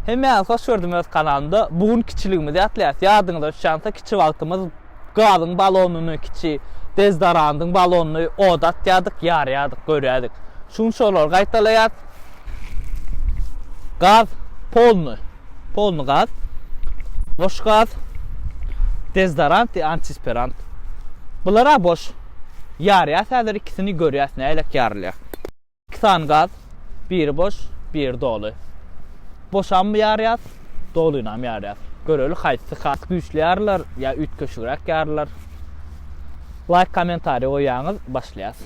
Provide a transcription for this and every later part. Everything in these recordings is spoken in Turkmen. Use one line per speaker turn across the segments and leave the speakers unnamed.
Hemmäňizi hoş gördüm öz kanalymda. Bu gün kiçiligimizi ýatlaýas. Ýadyňyza düşýänse kiçi wagtymyz gazyň balonyny, kiçi dezodorantyň balonyny oda atýardyk, ýarýardyk, görýärdik. Şu gün şolary gaýtalaýas. Gaz polny, polny gaz. Boş gaz. Dezodorant, antisperant. Bular-a boş. Ýarýas häzir ikisini görýäs nälelik ýarylýar. Iki sany gaz, biri boş, biri doly. Boşam ýarýas, dolynam ýarýas. Göreli haýsy has güýçli ýarylar ýa üýtgeşigräk ýarylar. Laýk kommentariý goýýaňyz başlaýas.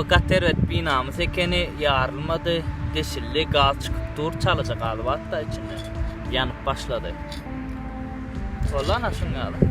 Bu gat erbet binamys ekeni, ýarylmady, deşildi, gaz çykyp dur, çalaja galyp atda içinde. Ýanyp başlady. Boldy ana şuň ýaly.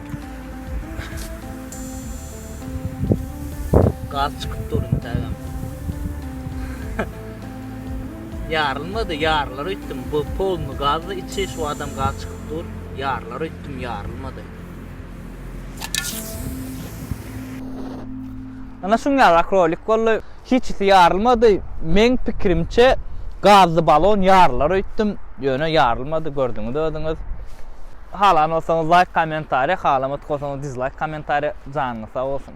Gaz çykyp dur intägem. Ýarylmady, ýarylar öýtdüm. Bu polny gazda içi şu adam gaz çykyp dur. Ýarylar öýtdüm, ýarylmady. Ana şuňňala krolik boldy. Hiçisi ýarylmady. Meň pikirimçe gazly balon ýarylar öýtdüm. Ýöne ýarylmady gördüňiz özüňiz. Halan bolsaňyz laýk kommentariýa halamat bolsaňyz dizlaýk kommentariýa janyňyz sag bolsun.